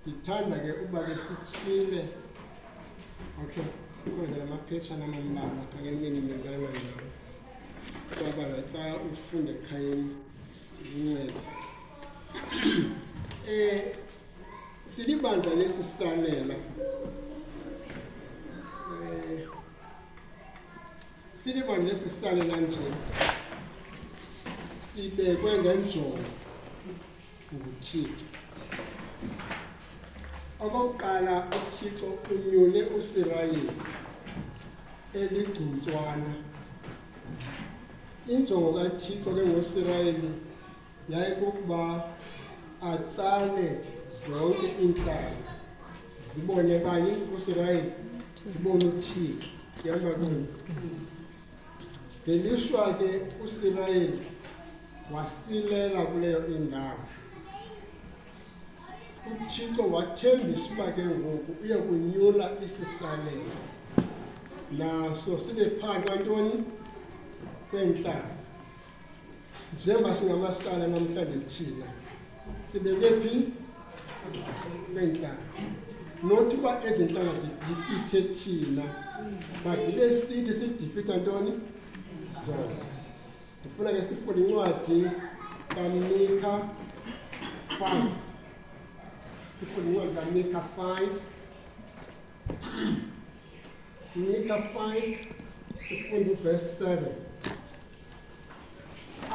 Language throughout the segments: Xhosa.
ndithanda ke uba ke sityhile okay khona la maphetshana amambala kangenini mingana ngawo kwabala xa ufunde ekhayeni zinceda um eh, silibandla lesisalela silibone lesi sisale kanje sibekwe ngenjongo nguThixo. Okokuqala uThixo unyule uSirayeli eligcuntswana. Injongo kaThixo ke ngoSirayeli yayikukuba atsale zonke iintlanga zibone bani uSirayeli zibone uThixo. Yamba kuni. Ngelishwa ke uSirayeli wasilela kuleyo indawo. UThixo wathembisa uba ke ngoku uye kunyula isisalela naso sibe phaa kwantoni kwentlanga. njengoba singamahlala namhlanje thina sibeke phi kweentlanga nothi uba ezi ntlanga zidifithe thina but ibe sithi sidifitha ntoni zona ndifuna ke sifuna incwadi kamika five sifuna incwadi kamika five Mika 5 sifundo verse 7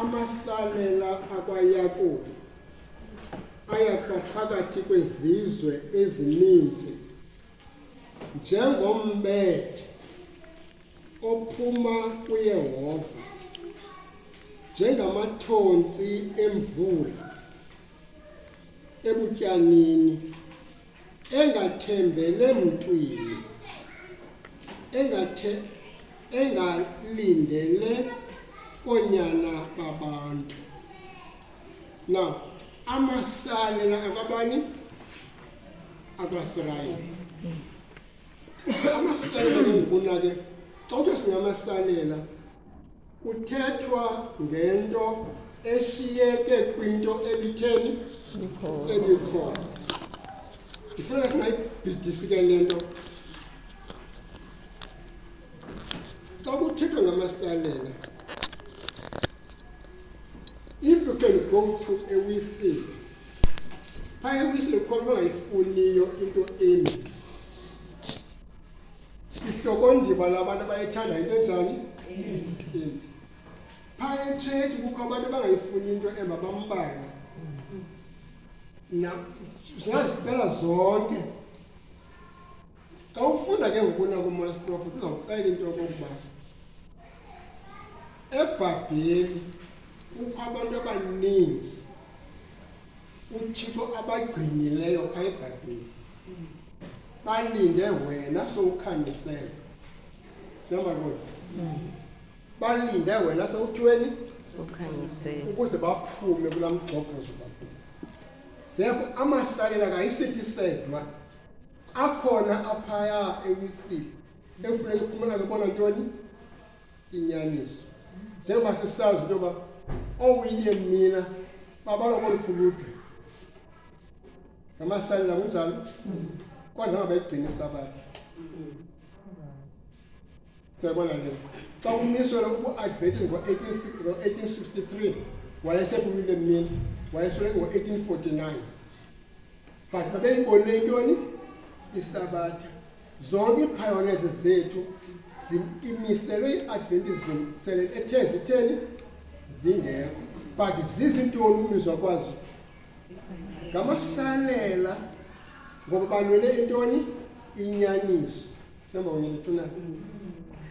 amasalela akwayakobi ayakwa phakathi kwezizwe ezininzi njengombethe ophuma kuyehova njengamathonsi emvula ebutyanini engathembele mntwini engathe engalindele koonyana babantu na amasale la akwabani akwasirayeli amasalela ke ngokuna ke xa uthiwa singamasalela Kuthethwa ngento eshiyeke kwinto ebitheni ebikhona. Ndifuna singayibhidisi ke le nto. Xa kuthethwa ngamasalela, if you can go to a whistle, phaya ewisile kukhona bangayifuniyo into embi ihlokondima labantu abayithanda into enjani imbi phaa etshetshi kukho abantu abangayifuni into emba bambane zingazibela zonke xa ufunda ke ngokuna komoya siprofet uzawuxela into yokokuba ebhabheli kukho abantu abaninzi uthixo abagcinileyo pha ebhayibhile balinde wena sowukhanyisele siyamabona balinde wena sewuthweni sokhanyisela ukuze baphume kula mgxobhozo bakho therefore amahlalela kayisithi sedwa akhona aphaya ewisile ekufuneka uphumela ke bona ntoni inyaniso njengoba sisazi into yoba oowilliam mina babalwa koluphuludwe ngamasalela kunjalo kodwa ngabayigcina isabatha siyabona le xa kumiselwe uku-advetini ngo-1863 wayesephulile mina wayeselwe ngo-1849 but babeyibonile intoni isabatha zonke iiphayoneze zethu imiselwe i-adventism sele ethe zitheni zingekho but zizintoni umizwa kwazo ngamasalela ngoba balwele intoni inyaniso semba kunye ndithunayo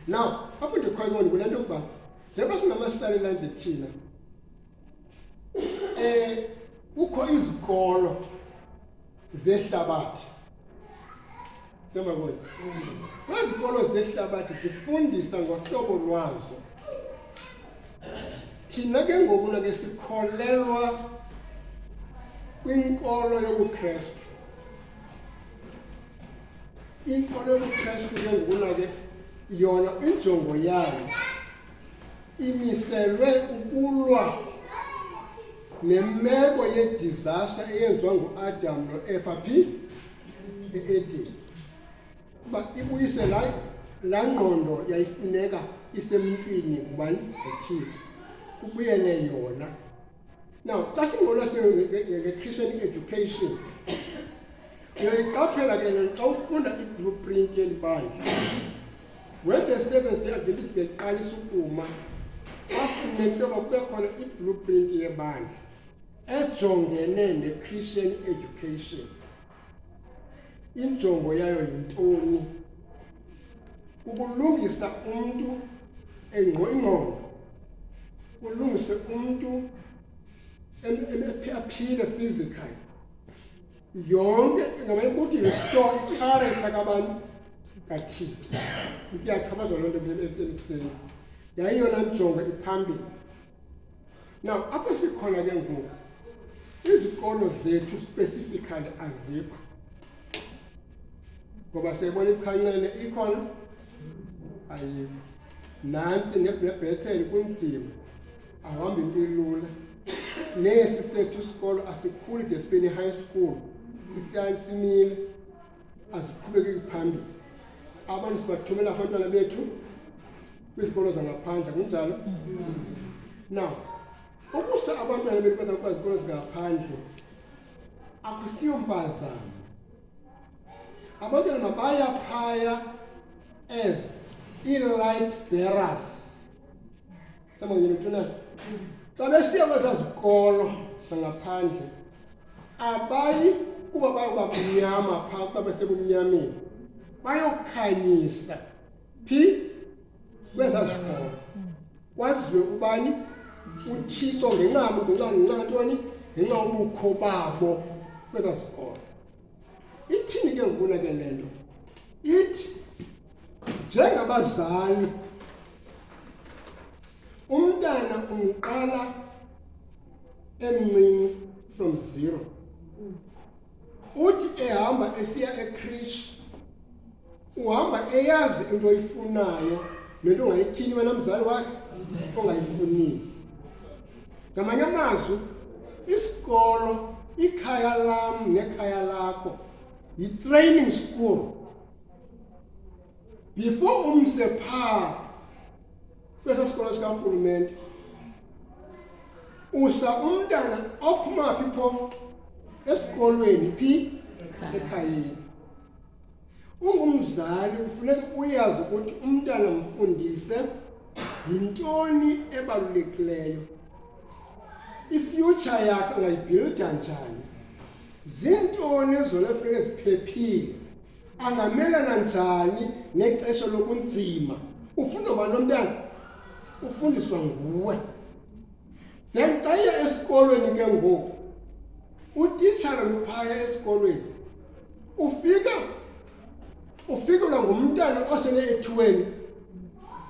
now apho ndikhoyo kule nto yokuba njengoba singamasalela nje thina Eh kukho izikolo zehlabathi semakuyo kwezikolo zehlabathi zifundisa ngohlobo lwazo thina ke ngoku nake sikholelwa kwinkolo yobukrestu inkolo yobukrestu ke ngokuna ke yona injongo yayo imiselwe ukulwa nemeko yedizasta eyenziwa nguAdam noEva phi eEden uba ibuyise la la ngqondo yayifuneka isemntwini ngubani nguThixo kubuyele yona Now, xa singona nge-Christian education, uyayiqaphela ke le xa ufunda i-blueprint yeli bandla. When the Seventh Day Adventist ngeqalisa ukuma, bafune into yoba kube khona i-blueprint yebandla ejongene ne-Christian education. injongo yayo yintoni ukulungisa umntu engqo ingqondo ulungise umntu aphile physically yonke ngamayikuthi restore icharacter kabantu kathixo iyachabaza loo nto emseni yayiyona njongo iphambili Now apho sikhona ke ngoku izikolo zethu specifically azikho ngoba siyayibona ichancele ikhona ayikho nantsi nebhethele kunzima ahamba into ilula nesi sethu isikolo asikhuli de sibe ne-high school sisiyani simile aziqhubekeki phambili abantu sibathumela abantwana bethu kwizikolo zangaphandle kunjalo now ukusa abantwana bethu baza kwazikolo zingaphandle akusiyo mpazamo abantwana mabaya phaya as i-light bearers semangenethunana xa besiya kwesaa zikolo zangaphandle abayi kuba bayoba mnyama phaa kuba besebumnyameni bayokhanyisa phi kwesaa zikolo kwaziwe ubani uthixo ngenxa ngenxa ngenxa ntoni ngenxa ubukho babo kwesaa zikolo ithini ke ngokuna ke le nto ithi njengabazali umntana umqala emncinci from zero uthi ehamba esiya ekrish uhamba eyazi into oyifunayo nento ongayithini wena mzali wakhe ongayifunile ngamanye amazwi isikolo ikhaya lam nekhaya lakho yitraining school before umse phaa kwesa sikolo sikarhulumente usa umntana ophuma phi phofu esikolweni phi ekhayeni ungumzali kufuneka uyazi ukuthi umntana mfundise yintoni ebalulekileyo ifuture yakhe ungayibhilida njani zintoni ezona funeka ziphephile angamelana njani nexesha lokunzima ufunda ubani lo mntana ufundiswa nguwe then xa iya esikolweni ke ngoku utitshala luphaya esikolweni ufika ufikelwa ngumntana osele ethweni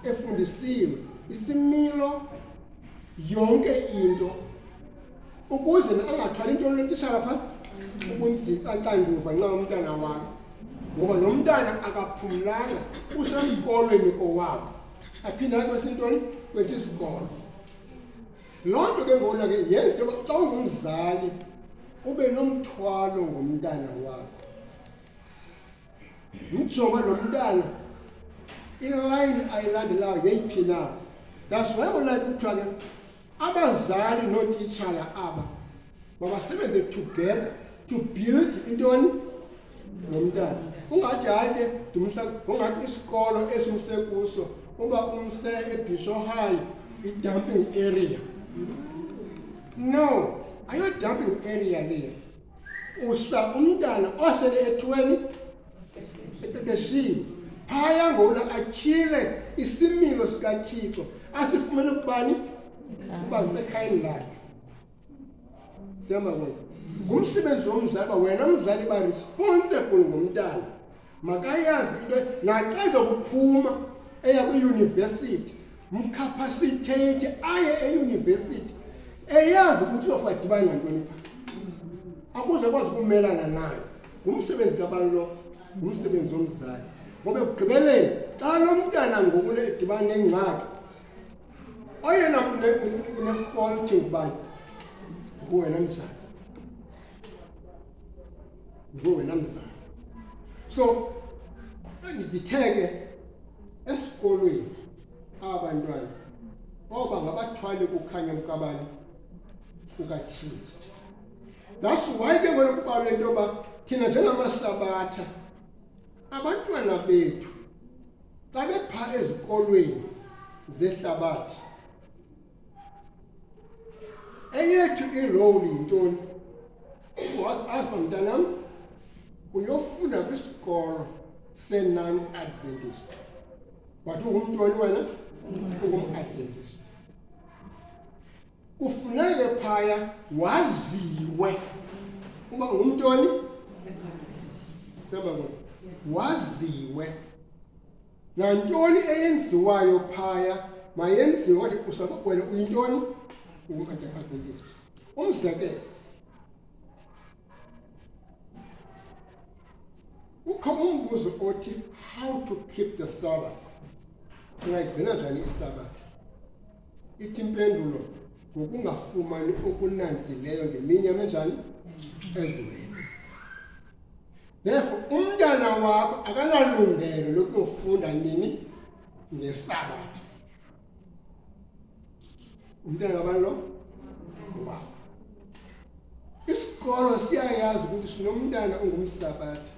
efundisiwe isimilo yonke into ukuze angathwali into lotishara pha ubunzima axanduva nxa umntana wam ngoba lo mntana akaphumlanga usesikolweni kowabo aphinde aye kwesintoni kwethi isikolo loo nto ke ngona ke yenza into yoba xa ungumzali ube nomthwalo ngomntana wakho mjonga lo mntana ilayini ayilandelayo yeyiphi na that's why kona kuthiwa ke abazali nootitshala aba mabasebenze together to build intoni lo mntana ungathi hayi ke ndimsa ungathi isikolo esimse kuso uba umse ebhisho high i-dumping area no ayo-dumping area leyo usa umntana osele ethweni ebeshiwe phaya ngona atyhile isimilo sikathixo asifumene kubani uba ekhayeni lakhe sihamba ngoku ngumsebenzi womzali uba wena mzali uba responsible ngomntana makayazi into naxa ezokuphuma eya kwiyunivesithi mkhaphasithethe aye eyunivesithi eyazi ukuthi uyofa dibani ngantoni pha akuze kwazi ukumelana nayo ngumsebenzi kabantu lo ngumsebenzi womzali ngoba ekugqibeleni xa lo mntana ngoku edibana nengxaki oyena unefolti ngubani nguwena mzali nguwe wena mzali so nditheke esikolweni aba bantwana oba ngabathwali kukhanya kukabani kukathini that's why ke ngona kubalwa into yoba thina njengamasabatha abantwana bethu xa bepha ezikolweni zehlabathi eyethu irowuli yintoni afa mntanam uyofunda kwisikolo se-non adventist but ungumntoni wena ungum-adventist kufuneke phaya waziwe uba ngumntoni siyababona waziwe nantoni eyenziwayo phaya mayenziwe wathi usakukwele uyintoni ungumantakatholistu umzekelo kukho umbuzo othi how to keep the sabbath ungayigcina njani isabathi ithi impendulo ngokungafumani okunanzileyo ngeminye amenjani endluleni Therefore, umntana wakho akanalungelo lokuyofunda nini ngesabatha. Umntana kabani lo? Wakho. Isikolo siyayazi ukuthi sinomntana ongumsabatha.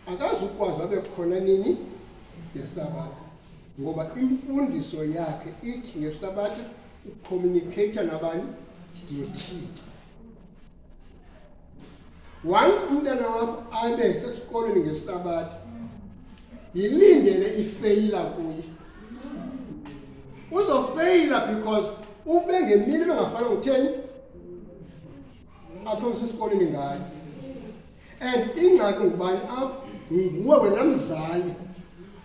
Akazukwazi abe khona nini ngesabatha. Ngoba imfundiso yakhe ithi ngesabatha ucommunicate nabani? Ngethixo. once umntana wakho abe sesikolweni ngesabatha yilindele ifeyila kuye uzofeyila because ube ngemini bengafana ngutheni athome sesikolweni ngayo and ingxaki ngubani apho nguwe wena mzali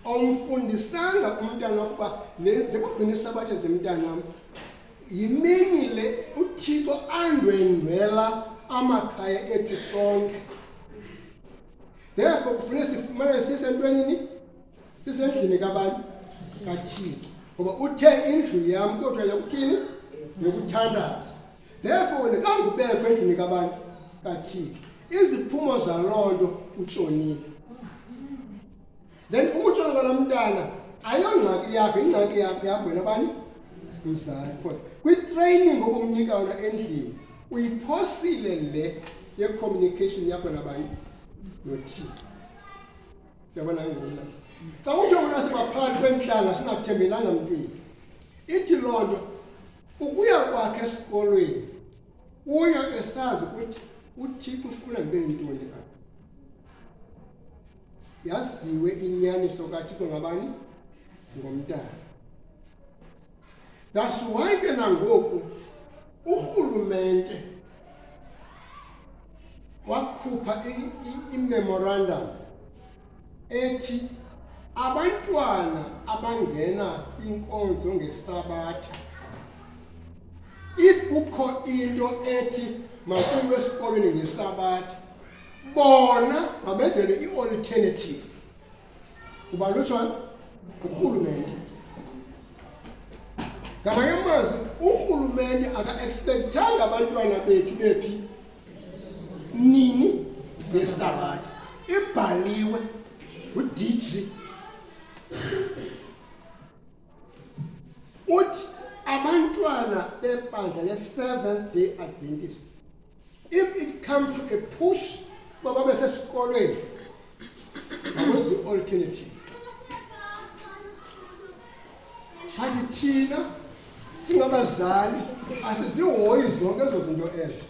awumfundisanga umntana ukuba le njengogcina isabatha nje mntanam yimini le uthixo andwendwela amakhaya ethu sonke therefore kufuneka sifumane sisentwenini sisendlini kabantu kathixo ngoba uthe indlu yam kuthiwa yokuthini yokuthandaza therefore wena kangubekho endlini kabantu kathixo iziphumo zaloo nto utshonile then umutshana lona mntana ayongxaki yakho ingxaki yakho yakho wena bani mzali because kwitraining obumnika yona endlini uyiphosile le yecommunication yakho nabani nothixo siyabona ngona xa kuthiwa kona sibaphakathi kwentlanga singathembelanga mntwini ithi loo nto ukuya kwakhe esikolweni uya esazi ukuthi uthixo ufuna ndibe yintoni apha yaziwe inyaniso kathixo ngabani ngomntana that's why ke nangoku urhulumente wakhupha imemorandum ethi abantwana abangena inkonzo ngesabatha if kukho into ethi makuyo esikolweni ngesabatha bona mabenzele i-alternative kuba lutshwana ngurhulumente ngamanye amazwi urhulumente aka-ekspekthanga abantwana bethu bephi nini ngehlabathi ibhaliwe ngudj uthi abantwana bebandla le-seventh day adventist if it come to a push uba babe sesikolweni makwenza i-alternative kanti thina singabazali asizihoyi zonke ezo zinto ezo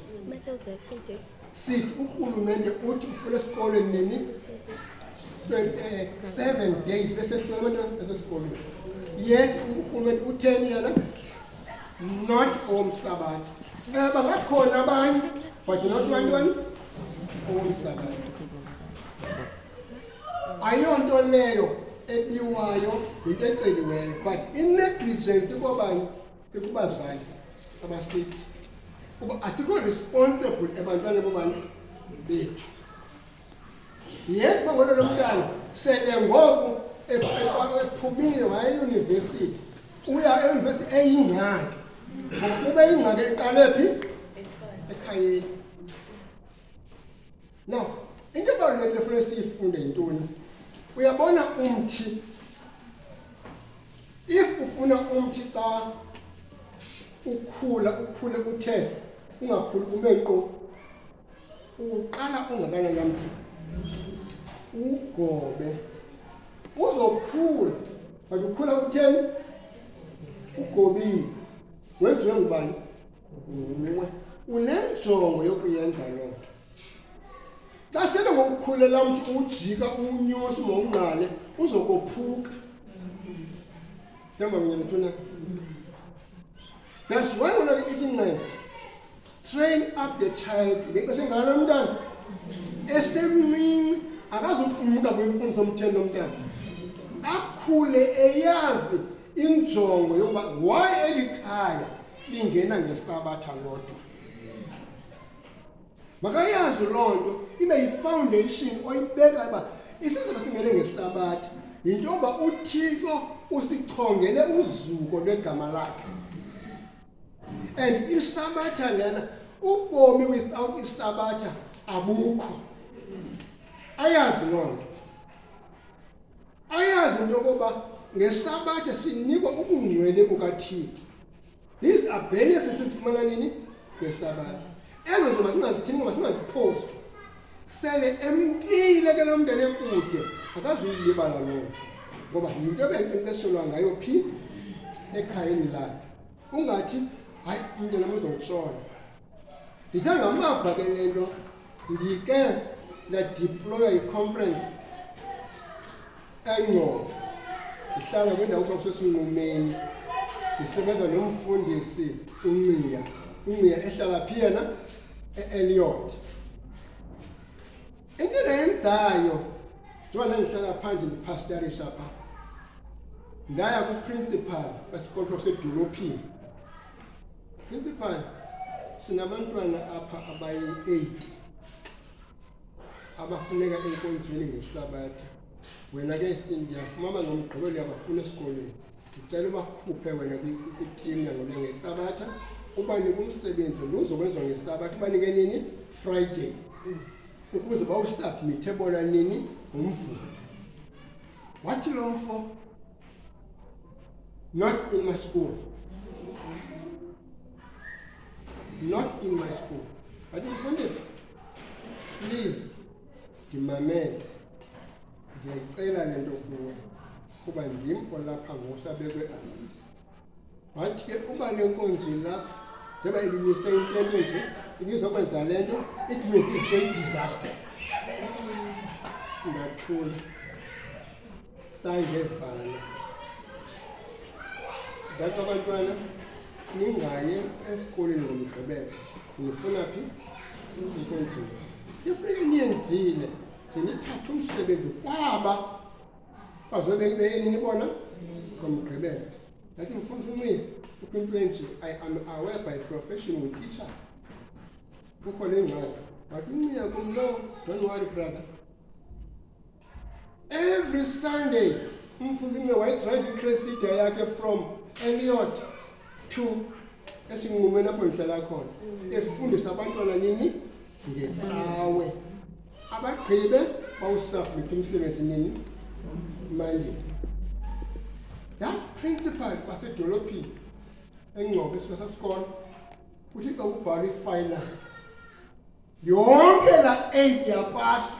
sithi urhulumente uthi ufuna esikolweni nini eh, seven days besesicela abantwana besesikolweni yet urhulumente utheni yena not owomhlabathi um bangakhona abanye but not bantoni owomhlabathi ayonto leyo ebiwayo yinto eceliweyo but inegligence kobani kubazali abasithi uba asikho responsible ebantwana bobani bethu Yethi bangolo lomntana sele ngoku ephumile waya eyunivesithi uya eyunivesithi eyingxaki ngokuba ingxaki eqale phi ekhayeni now into ebalulekile funeka siyifunde yintoni uyabona umthi if ufuna umthi xa ukhula ukhule uthe ungakhuli ume nqo uqala ongakananamthi ugobe uzokhula but ukhula utheni ugobile wenziwe ngubani nguwe unenjongo yokuyenza loo nto xa sele ngokukhulela mntu ujika unyusi mawungqale uzokophuka sihamba kunye nethuna that's why wena ithi nxele train up the child ngexesha engalo mntana esemncinci akazukumka kwimfundiso omthendo omntana akhule eyazi injongo yokuba why eli khaya lingena ngesabatha lodwa makayazi loo nto ibe yifoundation oyibeka uba isizaba singene ngesabatha yinto yoba uthixo usichongele uzuko lwegama lakhe and isabatha lena ubomi without isabatha abukho ayazi loo nto ayazi into yokuba ngesabatha sinikwa ubungcwele bukathixo these are benefits ezifumana nini ngesabatha ezo zinto masingazithini masingaziphosi sele emkile ke lo mndeni ekude akazuyilibala loo nto ngoba yinto ebenkcenkceshelwa ngayo phi ekhayeni lakhe ungathi hayi umntana muzotshona ndithe ngamava ke le nto ndike ndadiploya iconference engcobo ndihlala kwindawo kuthiwa kusesinqumeni ndisebenza nomfundisi unciya unciya ehlala phi yena e-Elliot. Into endayenzayo njengoba ndandihlala phandle ndiphastarisha pha ndaya kuprincipal wesikolo sedolophini principal sinabantwana apha abayi-eight abafuneka enkonzweni ngesabatha wena ke ndiyafumama ngomgqibelo yabafuna esikolweni ndicela ubakhuphe wena kwitimu yangona ngesabatha ubanike umsebenzi lo uzokwenziwa ngesabatha ubanike nini friday ukuze bawusubmithe bona nini ngomvulo wathi lo mfo not in my school not in my school wathi mfundisi please ndimamele ndiyayicela le nto kuwe kuba ndim olapha ngosabekwe abini wathi ke uba le nkonzi lapha njengoba ibimise into ento nje ibizokwenza le nto it may be say disaster ngathula Sangevana ndaka abantwana ningaye esikoleni ngomgqibelo nifuna phi ikonzulu ndifuneke niyenzile zinithathe umsebenzi kwaba bazobe beyeni nibona ngomgqibelo ndathi ndifuna usunxiba kukho into enje i am aware by profession ngutitsha kukho le ngxaki wathi unciya kumlo don't worry brother every sunday umfundime wayedrive icresida yakhe from eliot to esinqumeni apho ndihlala khona mm. efundisa abantwana nini ngecawe abagqibe bawusubmit umsebenzi nini monday that principal wasedolophini engcobo esibasasikolo uthi xa kubhalwa ifinal yonke la 8 yapasa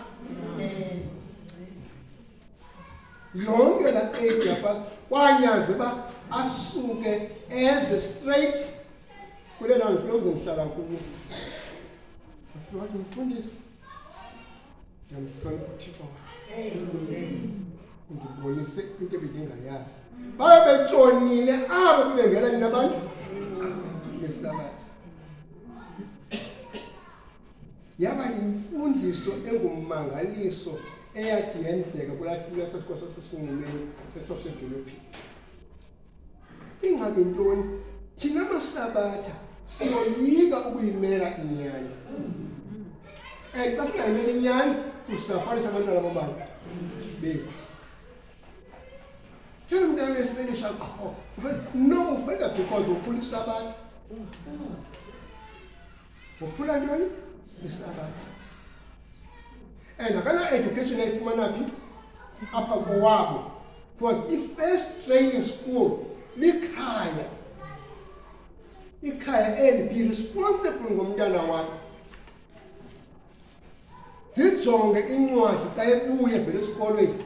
yonke la 8 yapasa kwanyanze uba asuke eze straight kule ndawo ndilomze ndihlala kuwo ndifika wathi mfundisi ndiyamhlonipha uthixo ndibonise into ebendingayazi babe betshonile abo bebengena nina abantu ngesabatha yaba yimfundiso engummangaliso eyathi yenzeka kulasikwa sasesinqumeni esasedolophini ingxaki ntoni thina masabatha siyoyika ukuyimela inyani and basingayimela inyani kusisafanisa abantwana babantu bethu Njengomntana esifinisha qho. No, ufenda because wophulisa abantu. Wophula ntoni? Isa abantu. And akana education ayifumana phi? Apha kowabo. Because i-first training school likhaya. Ikhaya and be responsible ngomntana wakho. zijonge incwadi xa ebuye evele esikolweni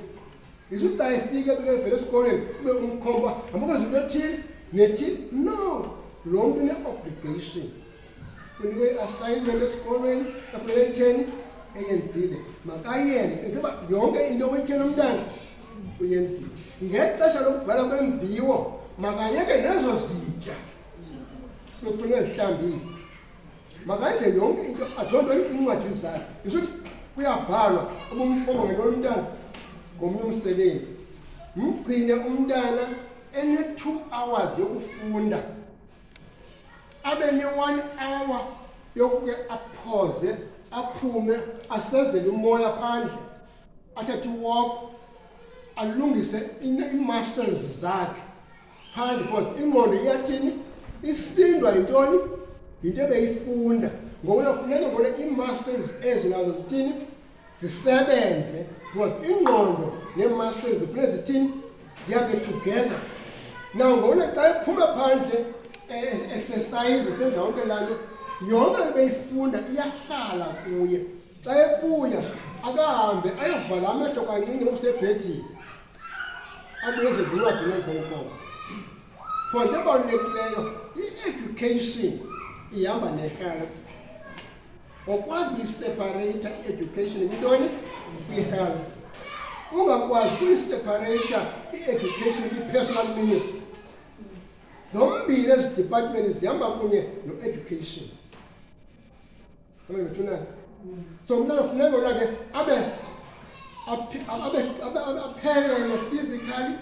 isu xa efike ebike evele esikolweni ube umkhomba amukwenza into ethile nethile no lo mntu une-obligation unikwe i-assignment esikolweni efunele itheni eyenzile makayele enzeba yonke into oyitheni umntana uyenzile ngexesha lokubhala kwemviwo makayeke nezo zitya lokufuneka zihlambile makenze yonke into ajonge iincwadi zakhe isothi kuyabhalwa ubumfobo ngento lomntana ngomnye umsebenzi mgcine umntana ene-two hours yokufunda abe ne-one hour yokuke aphoze aphume asezele umoya phandle athathe iwoko alungise iimuscles zakhe phandi because ingqondo iyathini isindwa yintoni yinto ebeyifunda ngokuna funeka ngona ii-muscles ezo nazo zithini zisebenze because ingqondo nee-muscles zifune zithini ziyabe together now ngokuna xa ephuma phandle e-exercise senza yonke laa nto yonke ebeyifunda iyahlala kuye xa ebuya akahambe ayovala amehlo kancinci nokusebhedini abuyeze zincwadi neemfonkolo for into ebalulekileyo i-education ihamba ne-health okwazi kuyisepareyitha i-education yintoni kwi-health ungakwazi kuyisepareyitha i-education kwi-personal ministry zombili ezi department zihamba kunye no-education Kama imetuna. So mna funeka ona ke abe abe abe aphelele physically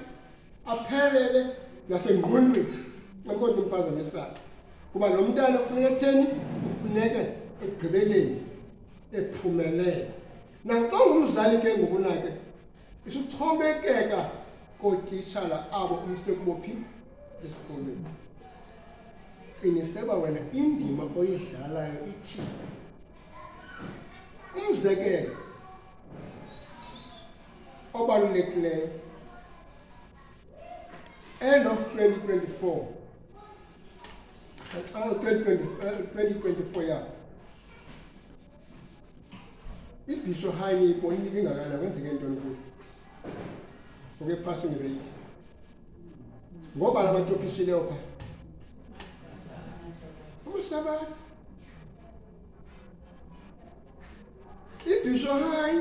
aphelele nasengqondweni. Ngakho ndimfaza ngesakhe. Kuba lo mntana kufuneka etheni? Kufuneka ekugqibeleni ephumelele. Naxa ungumzali ke ngokunake isuxhomekeka kootishala abo umsekubo phi esikolweni qiniseba wena indima oyidlalayo ithini umzekelo obalulekileyo end of 2024 2024 ya ibhisho high niyibonile ingakana kwenzeke ntoni kuyo oke passing rate ngoba la bantu ophishileyo phaa amasabatha ibhisho high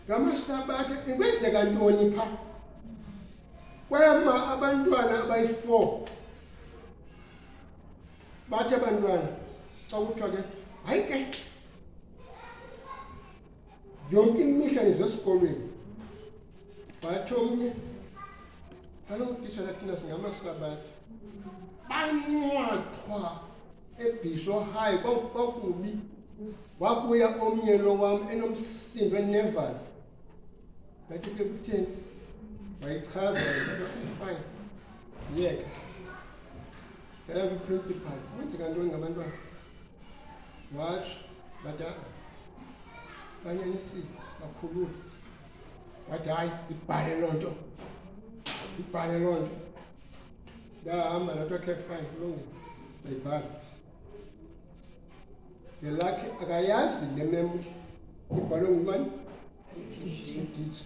ngamasabatha ikwenzeka ntoni phaa kwema abantwana abayi-four bathi abantwana xa kuthiwa ke hayi ke yonke imihla nezesikolweni bathi omnye kaloku titshala thina singamasabatha bancwathwa ebhisho hayi kwakubi wabuya omnye lo wam enomsindo enevas ngathi ke kutheni wayichaza fine yeka yeah. Yaya kwi-principal kwenzeka ntoni ngabantwana wash badala banyanisile bakhulula wathi hayi ndibhale loo nto ndibhale loo nto ndahamba natwa caf five longe ndayibhala ngelakhe akayazi le memo ibhalwe ngubani udiji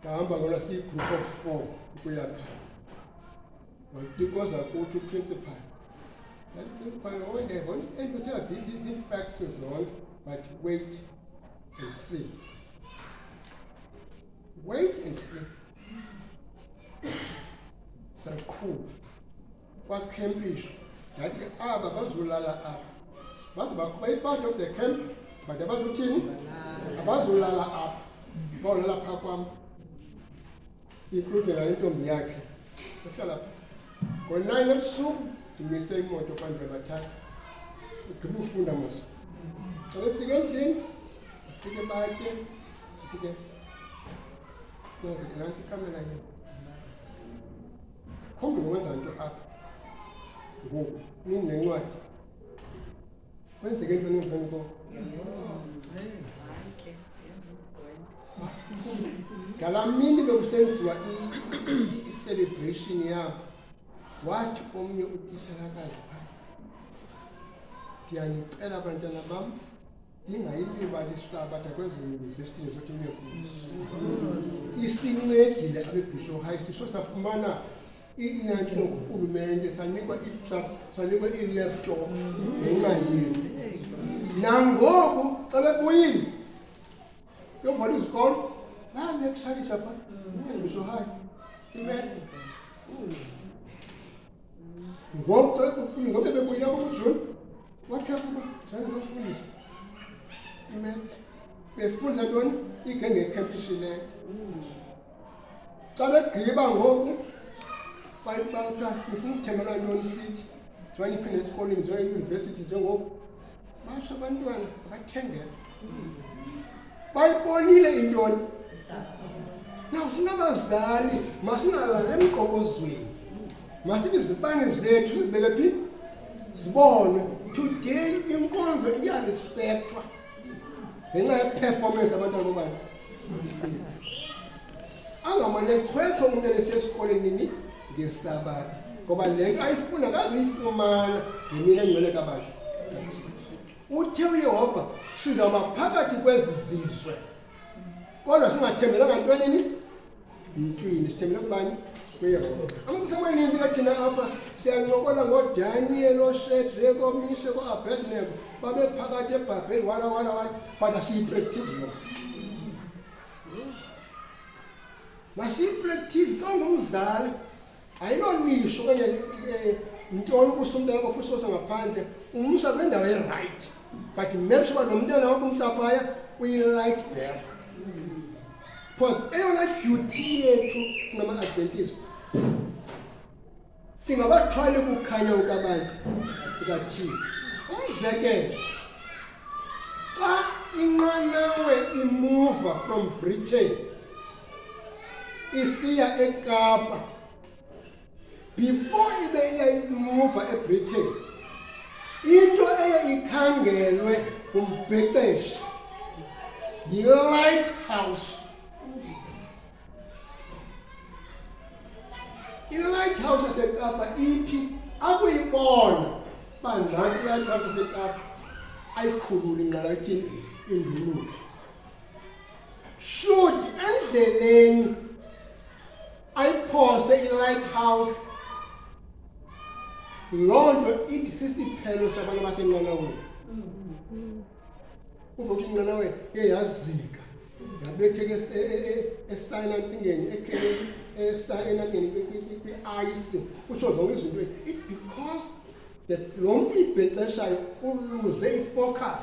ndahamba ngola siyi-group of four ukuya phaa wayitikoza kuthi uprincipal principal ondevo endikuthiwa zii-facts zonke but wait and see wait and see saqhuba kwakhempisha ndathi ke aba bazolala apha bazobakuba i-part of the camp but abazothini abazolala apha bawulala phaa kwam include ngale ntombi yakhe ehlala pha ngo-nine ebusuku ndimise imoto kwandwe bathatha ugqiba ufunda mos xa befika endlini bafike batye ndithi ke nazi nantsi ikamela yena Khombe wenza into apha ngoku nini nencwadi kwenzeke into nemveni koko ngalaa mini bekusenziwa icelebration yabo wathi omnye utishalakazi phaa ndiyanicela bantwana bam ningayilibali isabatha kwezo yunivesithi nezothi niyefundisa isincedile abebhisho hayi sisho safumana inantsho ngurhulumente sanikwa iitruck sanikwa iilaptop ngenxa yenu nangoku xa bebuyile yokuvala izikolo bayanekusalisha pha ebhisho hayi imaths ngoku xa kuquni ngobe bebuyile apho kujuni wathetha uba zange bafundise imaths befunda ntoni igenge ekhempishileyo xa begqiba ngoku bafuna ukuthengelwa ntoni fithi zwanyiphinde esikolweni zeyunivesithi njengoku basho abantwana abathengela bayibonile intoni na sinabazali masingalali emqokozweni masithi izibane zethu sizibeke phi zibonwe today inkonzo iyalispekthwa ngenxa yeperformance abantwana bobani angamane chwethe umntana esesikoleni nini ngesabatha ngoba le nto ayifuna kazoyifumana ngemini engcwele kabantu uthe uyehova sizawuba phakathi kwezi zizwe kodwa singathembelanga ntwenini mntwini sithembele kubani kuyehova amaxesha amaninzi ke thina apha siyancokola ngodaniel oshedrek omishe ko-abednego babephakathi ebhabheli wala wala wala but asiyipractive yona masiyipractise xa ungumzali ayinonisho okanye eh, ntoni ukusumntana kwakho usiwose ngaphandle umsa kwindawo erayithi but make sure uba nomntana wakho umsaphaya uyi-light bearer because eyona duty yethu singama-adventist singabathwali ukukhanya ukabani kukathini umzekelo xa inqanawe imuva from britain isiya ekapa before ibe iyayimuva ebritain into eye ikhangelwe ngumbhexeshi yi-light house ilighthouse yasekapa iphi akuyibona uba ngathi ilighthouse yasekapa ayikhululi nqala ithini induluke should endleleni ayiphose ilighthouse loo nto ithi sisiphelo sabantu abasenqanaweni uvothi inqanaweni iye yazika ndabetheka esayina emfingeni ekhele esayina kwi-ayisi kutsho zonke izinto it because that lo mntu ibhexeshayo uluze ifocus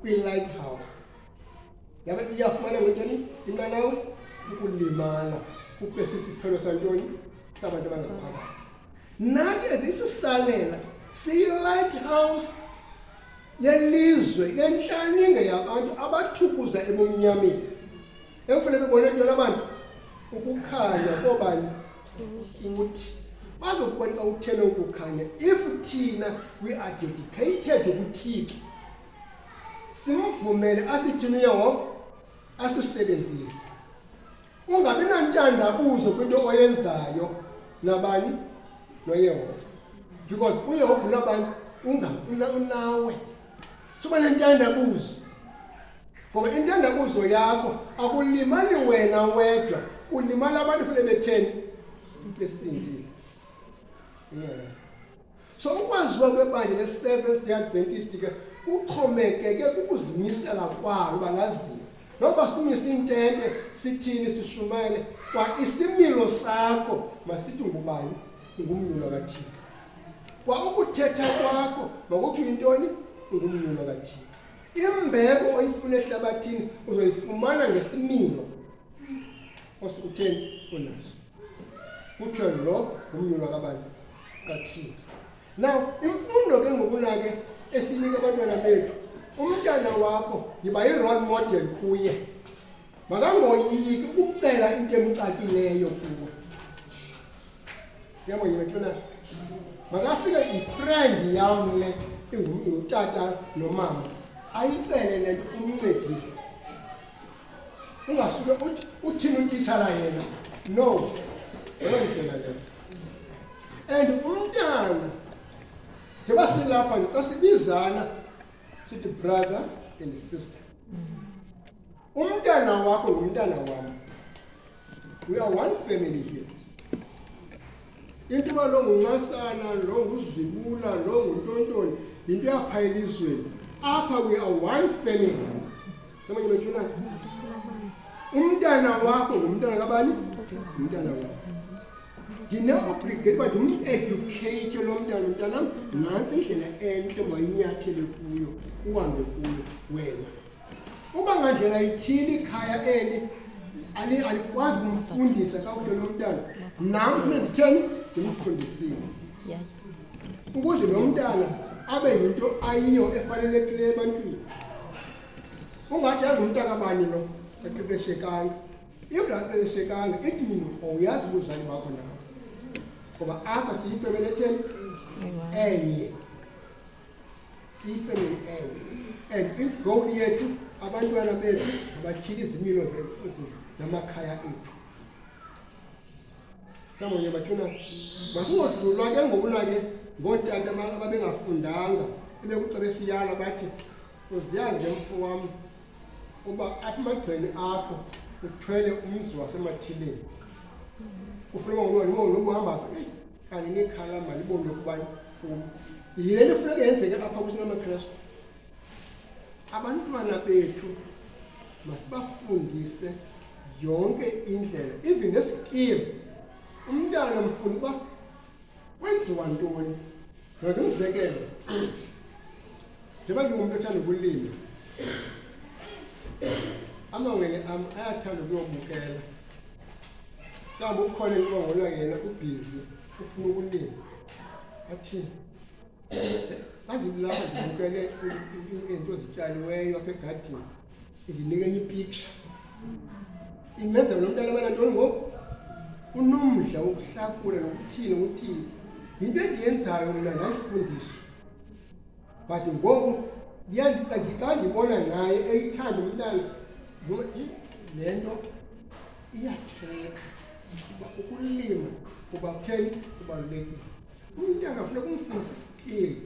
kwi-lighthouse yaba iyafumana ngentoni inqanawe ukulimala kube sisiphelo santoni sabantu abangaphakathi nathi ezisisalela siyi-lighthouse yelizwe lenhlaninge yabantu abathukuza ebumnyameni ekufuneka bebone into labantu ukukhanya kobani kuthi bazokubona xa uthele ukukhanya if thina we are dedicated ukuthixo simvumele asithini uyehova asisebenzise ungabi nantandabuzo kwinto oyenzayo nabani noyehova because uyehova unabani unawe suba nentandabuzo ngoba intandabuzo yakho akulimali wena wedwa kulimala abantu fune betheni into esindile So ukwaziwa kwebandla le-Seventh Day Adventist ke kuxhomekeke kukuzimisela kwalo uba laziwe. Noba simise intente sithini sishumayele kwa isimilo sakho masithi ngubani ngumnyulo kaThixo. Kwa ukuthetha kwakho makuthi uyintoni ngumnyulo kaThixo. Imbeko oyifuna ehlabathini uzoyifumana ngesimilo osikutheni unaso. Kuthiwe lo ngumnyulo kabani? kathini na imfundo ke ngokunake esinika abantwana bethu umntana wakho yiba yi-role model kuye makangoyiki ukucela into emxakileyo kuwe siyabonye bethuna makafike ifrendi yam le ingutata nomama ayicele le nto umncedise ungasuke uthini utitshala yena no yeyondlela leyo and umntana njengoba silapha nje xa sibizana sithi brother and sister umntana wakho ngumntana wam we are one family here into yoba lo nguncasana lo nguzibula lo nguntontoni yinto yapha elizweni apha we are one family Kama nimetuna umntana wakho ngumntana kabani? Umntana wakho. Ndine-obligate uba ndimedukeyithe lo mntana mntanam, nantsi indlela entle mayinyathele kuyo, uhambe kuyo wena. Uba ngandlela ithile ikhaya eli alikwazi kumfundisa kakuhle lo mntana, nam funa nditheni ndimfundisile ukuze lo mntana abe yinto ayiyo efanelekileyo ebantwini ungathi angumntakabani lo eqeqeshekanga if laqeqeshekanga ithi mina uyazi ubuzali bakho nawo ngoba apha siyifemeli etheni enye siyifemeli enye and if goal yethu abantwana bethu abatyhile izimilo zamakhaya ethu samonye bathuna masingohlulwa ke ngokuna ke ngootata ababengafundanga ebekuxa besiyala bathi Uziyazi ke mfo wam uba apha emagcweni akho uthwele umzi wasemathileni kufuneka ngolona uba unobuhamba phi eyi kanti nekhala malibonwe kubani funi yile nto funeka yenzeke apha kuthi namakrestu abantwana bethu masibafundise yonke indlela even nesikili umntana mfuna uba Kwenziwa ntoni? Ndoda umzekelo. Njengoba ndingumntu othanda ukulima, amawele am ayathanda ukuyobukela. Kambe ukhona intoba ngona yena ubhizi ufuna ukulima. Athini? andibulanga ndibukele iinto zityaliweyo apha egadini indinika enye ipiksha imenza lo mntana abana ntoni ngoku unomdla wokuhlakula nokuthini nokuthini yinto endiyenzayo mna ndayifundiswa but ngoku xa ndibona naye eyithanda umntana le nto iyathetha ukuba ukulima kuba kutheni kubalulekile umntana funeka umfundise isikili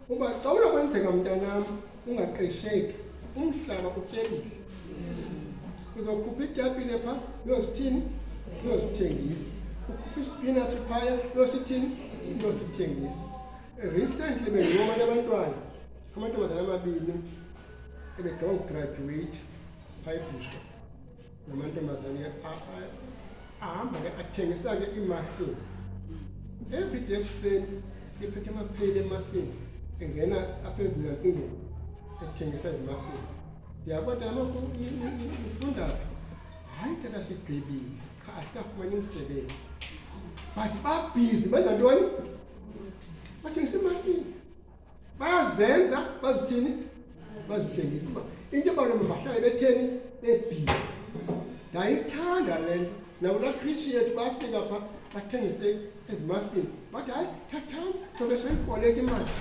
uba xa unokwenzeka mntanam ungaqesheki umhlaba utyebile uzokhupha itapile pha uyozithini uyozithengisa ukhupha isipinatshi phaya uyosithini uyosithengisa recently bendingomanye abantwana amantombazana amabini ebegqiba ukugraduweyitha phaa ebishop namantombazane ahamba ke athengisa ke iimuffin every day ekuseni siphethe amapheli emuffin engena apha ezinyantsingeni ethengisa izimuffin ndiyabona kaloku nifunda phi hayi tata sigqibile qha asikafumani umsebenzi but babhizi benza ntoni bathengisa imuffin bayazenza bazithini bazithengisa uba into ebaloma bahlale betheni bebhizi ndayithanda le nto nakulaa khrishi yethu bafika pha bathengise ezimafini but hayi thathani sobe soyikoleka imali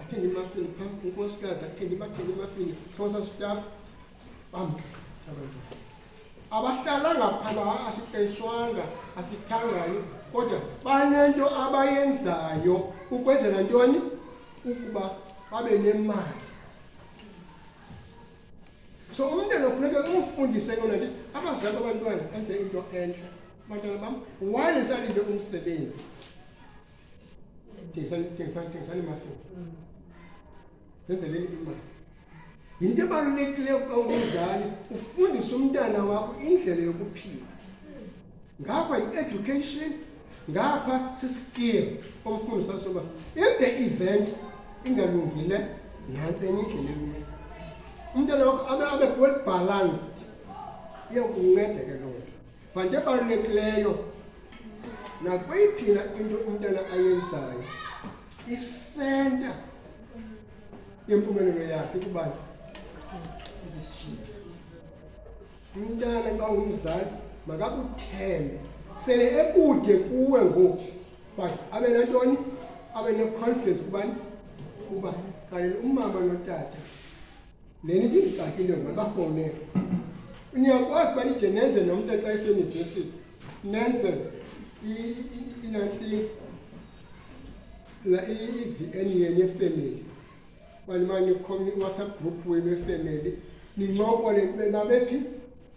athenge imafini pha unkosikazi athenge imathenge imafini sosa staff abahlalanga phala asiqeshwanga asithangani kodwa banento abayenzayo ukwenzela ntoni ukuba babe nemali so umntana funeka umfundise yona nto abazali abantwana enze into entle bantwana bam wani salinde umsebenzi thengisani imasini zenzeleni imali Yinto ebalulekileyo xa ungumzali ufundise umntana wakho indlela yokuphila. Ngapha yi-education, ngapha sisikiri omfundisa soba if the event ingalungile nantsi enye indlela elula. Umntana wakho abe abe well balanced iyakunceda ke loo nto. But into ebalulekileyo nakweyiphi na into umntana ayenzayo isenta yempumelelo yakhe kubani umntana xa ungumzali makakuthembe sele ekude kuwe ngoku but abe nantoni abe ne-confidence kubani kuba kanti umama notata le nto indicakile ngoba bafowunele niyakwazi uba nide nenze nomntu xa iseyunivesithi nenze inantlini la i-vn yenu yefemeli bani mani nikhomni iwhatsapp group wenu yefemeli nincokole nibe nabephi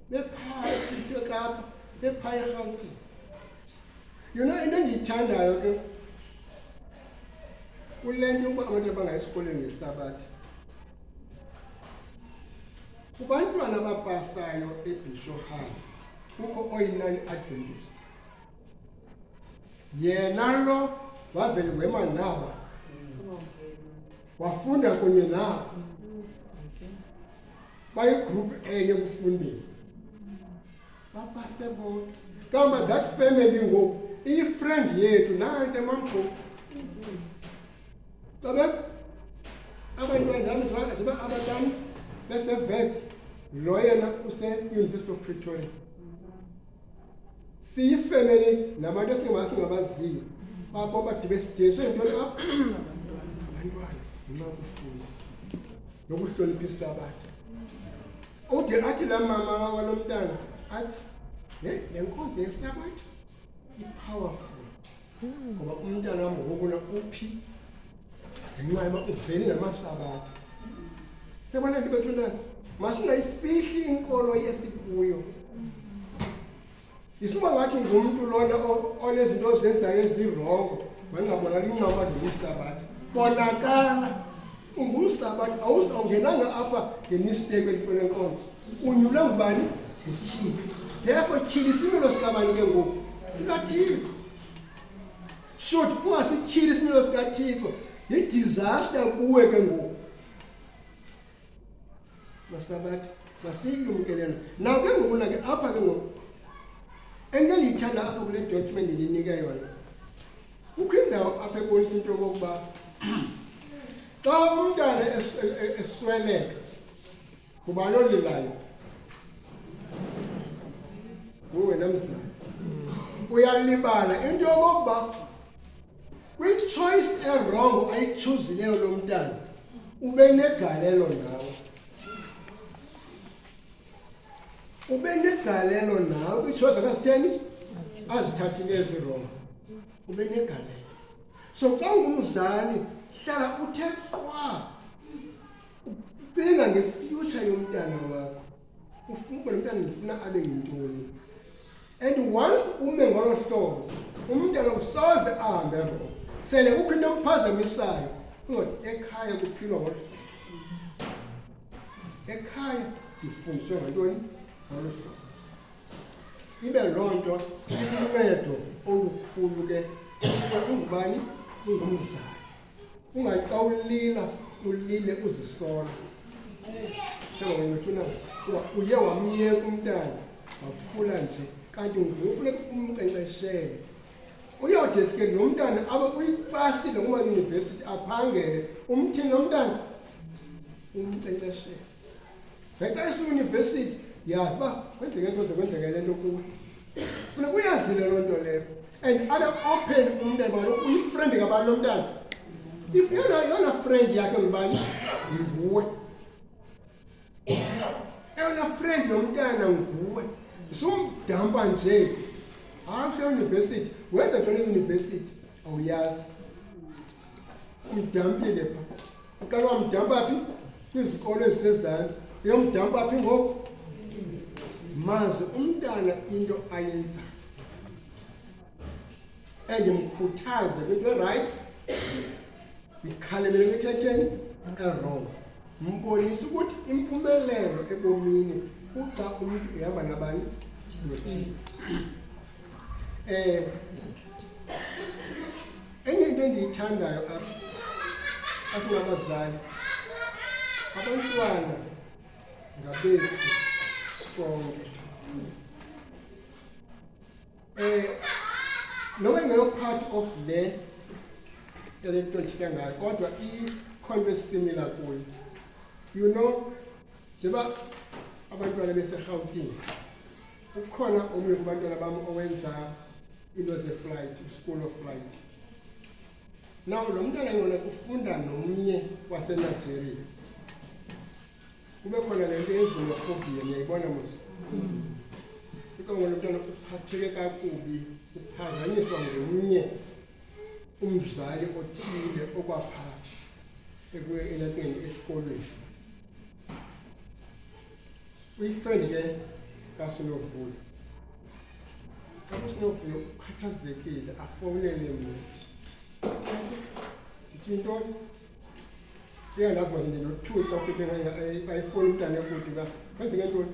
bephakathi into xapha bephaya erhawutini yona into endiyithandayo ke kule nto yokuba abantu abangayi esikolweni ngesabatha kubantwana abapasayo ebisho high kukho oyinani adventist yena lo wavele wema naba wafunda kunye nabo bayigruphu enye ekufundeni bapase bonke kamba that family ngoku iyifriend yethu nantse mamgoku xa be abantwanzami ziba abatam besevets lo yena useuniversity of pretoria siyifemeli nabantu esingabaziyo abo badibe sidinso yintoni apho abantwana nxa kufunda nokuhlonipha isabatha ude athi la mama walo mntana athi le nkonzo yesabatha i-powerful ngoba umntana wam ngokuna uphi ngenxa yoba uveli namasabatha sebona nto bethu nani masingayifihli inkolo yesikuyo isuba ngathi ngumntu lona onezinto ozenzayo ezirongo mandingabonakala incama ndingusabatha bonakala umbusa abathi awuze awungenanga apha ngemisteko entweni enkonzo unyulwe ngubani nguthixo therefore tyhili isimilo sikabani ke ngoku sikathixo shoti ungasityhili isimilo sikathixo yidisaster kuwe ke ngoku basabathi masilumkele na naw ke ngoku nake apha ke ngoku ento endiyithanda apha kule document ndinike yona kukho indawo apha ebonisa into yokokuba xa umntana esweleka ngubani olilayo nguwena mzali uyalibala into yokokuba kwichoice erongo ayichuzileyo lo mntana ube negalelo nawe ube negalelo nawe kwichoice akazitheni azithathileyo zirongo ube negalelo so xa ungumzali hlala uthe qwa ucinga ngefuture yomntana wakho ufuna umntana ndifuna abe yintoni and once ume ngolo hlobo umntana usoze ahambe rongo sele kukho into emphazamisayo ungathi ekhaya kuphilwa ngolu hlobo ekhaya ndifundiswe ngantoni ngolu hlobo ibe loo nto iluncedo olukhulu ke ungubani ungumzali ungathi xa ulila ulile uzisola sengawayethuna kuba uye wamyeka umntana wakhula nje kanti ngufuneka umnkcenkceshele uyode sike lo mntana abe uyipasile ngoba yunivesithi aphangele umthini lo mntana umnkcenkceshele ngenxa esiyunivesithi yazi uba kwenzeke nto kwenzeke le nto kuwe funeka uyazile loo nto leyo and abe open umntana balo uyifriend ngabani lo mntana if yona yona friend yakhe ngubani nguwe eyona friend yomntana nguwe sumdampa nje hayi useyunivesithi wenza ntoni eyunivesithi awuyazi Umdampile pha. Uqala wamdampa phi? Kwizikolo ezisezantsi. Uyomdampa phi ngoku? Mazi umntana into ayenzayo. And mkhuthaze kwinto erayithi. Mkhalemele kwithetheni erongo. Mbonise ukuthi impumelelo ebomini kuxa umntu ehamba nabani nothile. Eh enye into endiyithandayo apha xa singabazali abantwana ngabethu sonke eh noba ingeyo part of le yale nto ndithetha ngayo kodwa ikhonto esimila kuyo you know njengoba abantwana beserhawutini Kukhona omnye kubantwana bam owenza into zeflight, school of flight. Now lo mntwana ngona kufunda nomnye waseNigeria. Kube khona le nto yezimophobia niyayibona mos. Kuba ngona mntwana uphatheke kakubi, uphazanyiswa ngomnye umzali othile okwapha ekuye elathini esikolweni. uyifriend ke kasinovuyo xa usinovuyo ukhathazekile afowunele mna ndithi ntoni iyandazi uba ndinothuca ukuthi ayifoni umntana ekude uba kwenzeke ntoni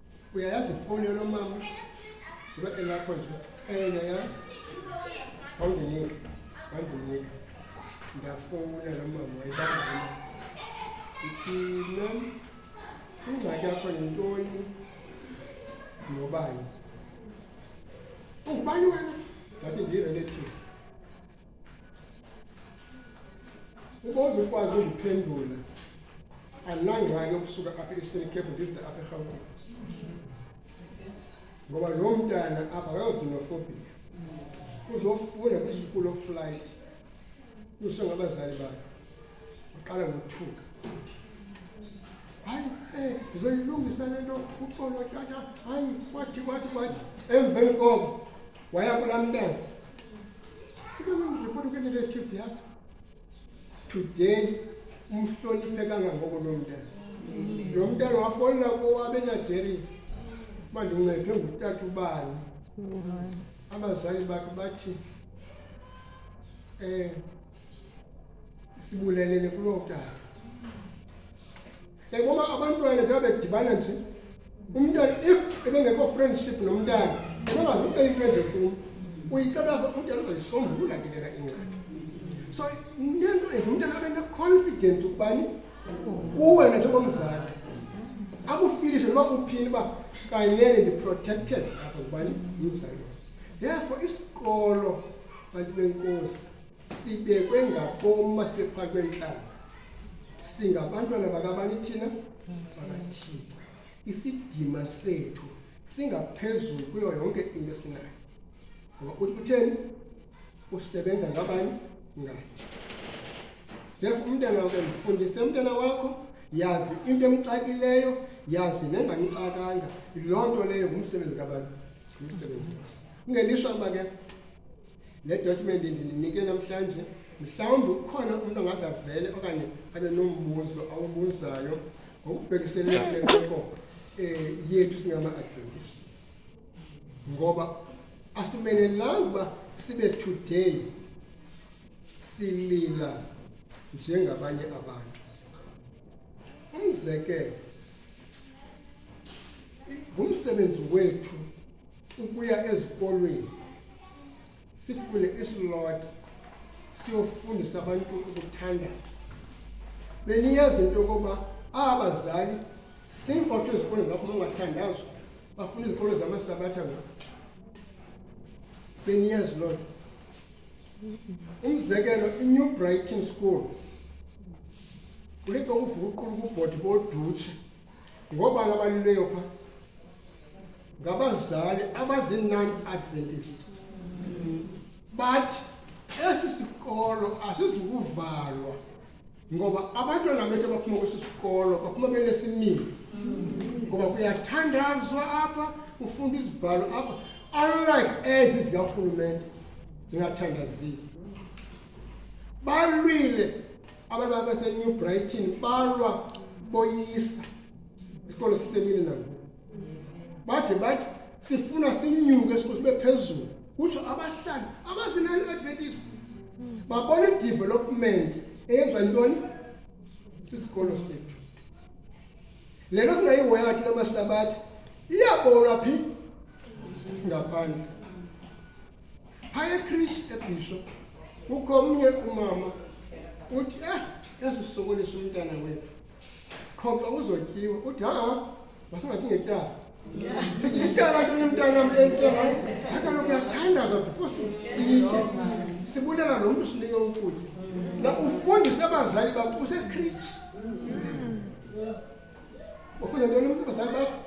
uyayazi ifowuni yalo mama ibe elapho nje eyayazi wandinika wandinika ndafowuna lo mama wayibangana ithi mam ingxaki yakho yintoni nobani ungubani wena ndathi ndiyirelative uba uzukwazi undiphendula andinangxaki ukusuka apha e-eastern cape ndize apha erhawutini ngoba loo mntana apha kayozinofobia uzofunda kwi-school of flight kusho ngabazali bakhe uqala ngothuka hayi um ndizoyilungisa le nto uxolo tata hayi wathi wathi wathi emveni koko Waya kulaa mntana ukemandiripoti kweneretive yakho today umhloniphe kangangoko loo mntana lo mntana wafolela kowabenajeri uba ndincedwe ngutata ubani abazali bakhe bathi um sibulelele kuloo tata ngoba abantwana njengoba bedibana nje umntana if ebengekho friendship nomntana ebengazi ucela into enje kum uyicela umntana uzayisombulula ke lena ingxaki so nento enje umntana abe ne-confidence ukubani kuwe na njengomzali akufilishe noba uphini uba kanene ndi-protected apha kubani umzali therefore isikolo bantu benkosi sibekwe ngaboma sibe phakathi kwentlanga singabantwana bakabani thina bakathixo isidima sethu singaphezulu kuyo yonke into esinayo ngoba uthi kutheni usebenza ngabani ngathi therefo umntana wake mfundise umntana wakho yazi into emxakileyo yazi nengamxakanga loo nto leyo ngumsebenzi kabani ngumsebenzi ngelishwa uba ke le dotyhumenti ndinike namhlanje mhlawumbi ukhona umntu ongathi avele okanye abe nombuzo awubuzayo ngokubhekiselele kule meko um yethu singama-adventist ngoba asimenelanga uba sibe today silila njengabanye abantu umzekelo ngumsebenzi wethu ukuya ezikolweni sifune isilota siyofundisa abantu ukuthandaza beniyazi into yokuba aba bazali singotsho ezikolweni bafuna ungathandazwa bafuna izikolo zamasabatha ngoku beniyazi loo nto umzekelo inew brighton school kulixa ukuvuka uqulu kubhodi bodutshe Ngoba abalileyo pha ngabazali abazi-non-adventists bathi esi sikolo asizukuvalwa ngoba abantwana bethu abaphuma kwesi sikolo baphuma benesimilo ngoba kuyathandazwa apha kufunda izibhalo apha unlike ezi zikarhulumente zingathandazile balwile abantu babesenew brighton balwa boyisa isikolo sisemini nabo bade bathi sifuna sinyuke isikolo sibe phezulu kutsho abahlali abazinani adventist babona idevelopment eyenza ntoni sisikolo sethu le nto singayihoyanga thina mahlabathi iyabonwa phi ngaphandle Phaya ekrishi ebhisho kukho omnye umama uthi eh yasisokolisa umntana wethu qho xa uzotyiwa uthi ha masingathi ngetyala sithi ityala nto nomntana wam entela akaloku uyathandaza before siyitye sibulela lo mntu sinike ukutya na ufundise abazali bakho usekrishi ufunda ntoni umntu abazali bakho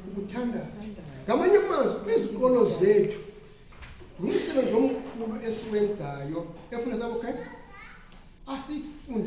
ukuthandaza ngamanye amazwi kwizikolo zethu ngumsebenzi omkhulu esiwenzayo efuna sabokhela asifunde